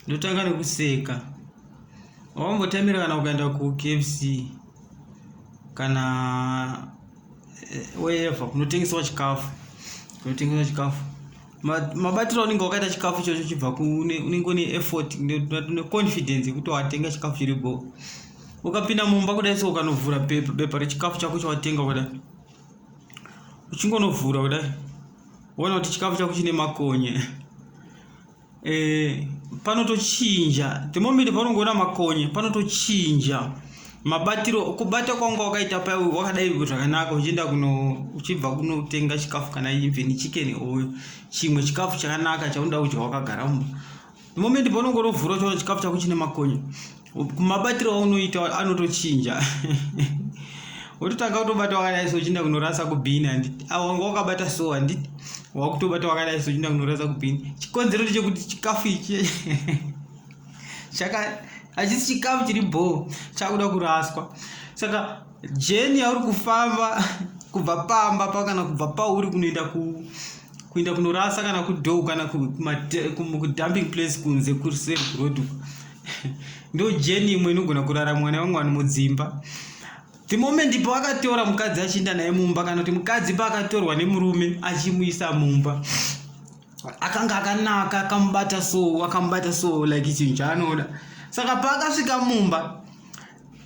ndotanga nekuseka wambotamira kana ukaenda kukfc kana eh, wherever kunotengeswa chikafu kunotengeswa chikafu mabatiro unenge wakaita chikafu ichocho chibva unenge une effort une confidence yekuti watenga chikafu chiri bo ukapinda mumba kudai so ukanovhura bepa rechikafu chako chawatenga kudai uchingonovhura kudai Ona kuti chikafu chako chine makonye. Eh, panotochinja. The moment paunongoona makonye, panotochinja. Mabatiro kubata kwanga wakaita pa wakadai zvakanaka uchienda kuno uchibva kunotenga chikafu kana even chicken or chimwe chikafu chakanaka chaunoda kudya wakagara mumba. the moment paunenge urovhura uchiona chikafu chako chine makonye mabatiro aunoita anotochinja wototanga kutobata wakadai so uchienda kunorasa kubhini handiti awa wanga wakabata so handiti wakutobata wakadai so uchienda kunorasa kubhini chikonzero ndechekuti chikafu ichi chaka hachisi chikafu chiri bho chakuda kuraswa saka jeni yauri kufamba kubva pamba pa kana kubva pauri kunoenda ku kuenda kunorasa kana kudow kana kudumping place kunze kuseri kuroad uko ndo jeni imwe inogona kurara mwana vamwe vanhu mudzimba the moment paakatora mukadzi achiinda naye mumba kana kuti mukadzi paakatorwa nemurume achimuisa mumba akanga akanaka akamubata so akamubata so like chinhu chaanoda saka paakasvika mumba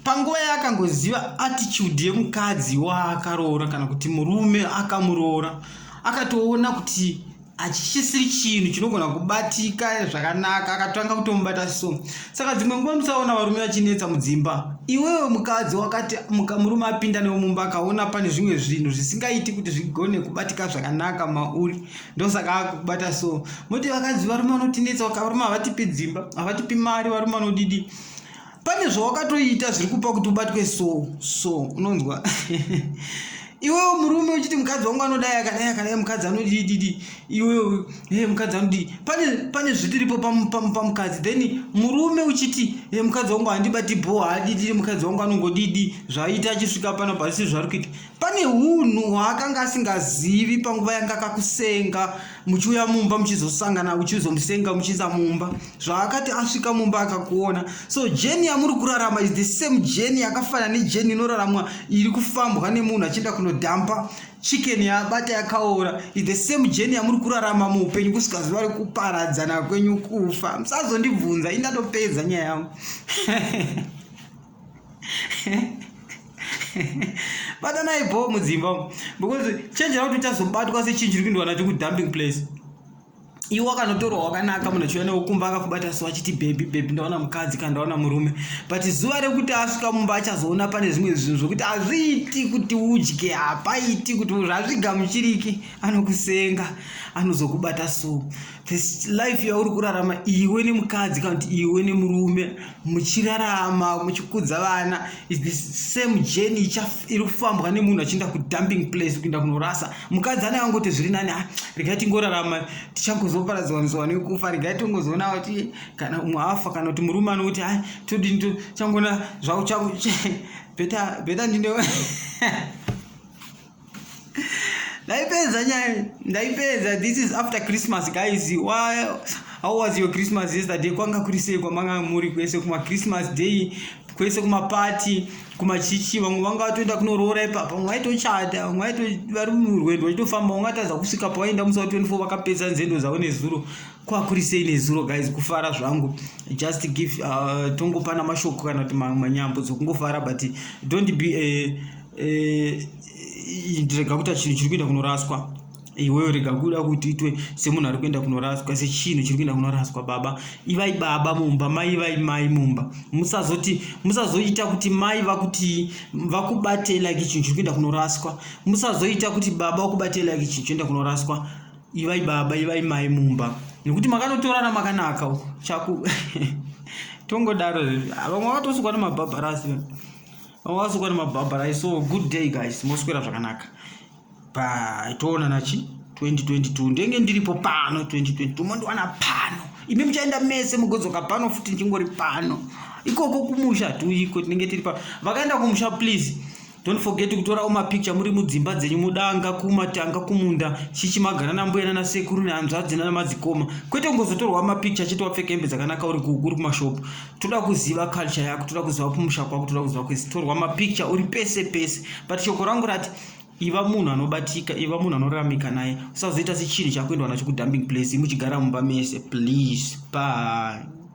panguva yaakangoziva attitude yemukadzi waakaroora kana kuti murume akamuroora akatoona kuti hachisisiri chinhu chinogona kubatika zvakanaka akatanga kutomubata so saka dzimwe nguva musaona varume vachinetsa mudzimba iwewe mukadzi wakati murume apinda newo mumba akaona pane zvimwe zvinhu zvisingaiti kuti zvigone kubatika zvakanaka mauri ndosaka akubata so moti vakadzi varume vanotinetsa varume havatipi dzimba havatipi mari varume vanodidi pane zvawakatoita zviri kupa kuti ubatwe so so unonzwa iwewe murume uchiti mukadzi wangu anodai akadai akadai mukadzi anodididi iwewe hey, eh, mukadzi anodii pane pane zvitiripo pamukadzi then murume uchiti hey, eh, mukadzi wangu handibati bho haadididi mukadzi wangu anongodidi zvaaita achisvika pano pazisi zvari kuita Pane hunhu hwaakanga asingazivi panguva yanga akakusenga muchiuya mumba muchizosangana uchizomusenga muchiza mumba zvaakati asvika mumba akakuona so jeni yamuri kurarama is the same jeni yakafana nejeni inoraramwa iri kufambwa nemunhu achienda kunodhampa chicken yabata yakaora is the same jeni yamuri kurarama muupenyu kusvika zuva rekuparadzana kwenyu kufa musazondibvunza indatopedza nyaya yangu batanai bho mudzimba umu because chenjera kuti uchazobatwa sechinhu chiri kuindwa nacho kudumping place iwe wakanotorwa wakanaka munhu achiuya newe kumba akakubata so achiti bhebhi bhebhi ndaona mukadzi kana ndaona murume but zuva rekuti asvika mumba achazoona pane zvimwe zvinhu zvokuti hazviiti kuti udye hapaiti kuti zvazvigamuchiriki anokusenga anozokubata so this life yauri kurarama iwe nemukadzi kana kuti iwe nemurume muchirarama muchikudza vana is the same journey iri kufambwa nemunhu achienda kudumping place kuenda kunorasa mukadzi anenge angoti zviri nani ah, regai tingorarama tichangozoparadzwaniswa nekufa regai tingozoona kuti kana umwe afa kana kuti murume anoti a ah, todini tichangoona zvauchango beta beta ndine ndaipedza nyaya ndaipedza this is after christmas guys why how was your christmas yesterday kwanga kuri sei kwamanga muri kwese kuma christmas day kwese kumapati kumachichi vamwe vanga vatoenda kunoroora ipapa vamwe vaitochata vamwe vaito vari murwendo vachitofamba vanga vatadza kusvika pavaenda musi wa 24 vakapedza nzendo dzavo nezuro kwakuri sei nezuro guys kufara zvangu just give uh, tongopana mashoko kana kuti manyambo dzokungofara but don't be uh, eh, ndirega kuita chinhu chiri kuenda kunoraswa iwewe rega kuda kuti itwe semunhu ari kuenda kunoraswa sechinhu chiri kuenda kunoraswa baba ivai baba mumba mai ivai mai mumba musazoti musazoita kuti mai vakuti vakubatei like chinhu chiri kuenda kunoraswa musazoita kuti baba vakubatei like chinhu chinoenda kunoraswa ivai baba ivai mai mumba nekuti makanotorana makanaka chaku tongodaro vamwe vakatosukwa nemabhabharasi awasukwa nemabhabhara i so good day guys moswera zvakanaka bye toonana chi 2022 ndenge ndiripo pano 2022 mondiwana pano imi muchaenda mese mugodzoka pano futi ndichingori pano ikoko kumusha tiuyiko tinenge tiri pa vakaenda kumusha please don't forget kutorawo mapicture muri mudzimba dzenyu mudanga kumatanga kumunda chichi magara nambuya nana sekuru nehanzvadzi nana madzikoma kwete kungozotorwa mapicture chete wapfeka hembe dzakanaka uri kuku uri kumashopu toda kuziva culture yako toda kuziva kumusha kwako toda kuziva kwese torwa mapicture uri pese pese but shoko rangu rati iva munhu anobatika iva munhu anoramika naye usazoita sechinhu chakuendwa nacho kudumping place muchigara mumba mese please bye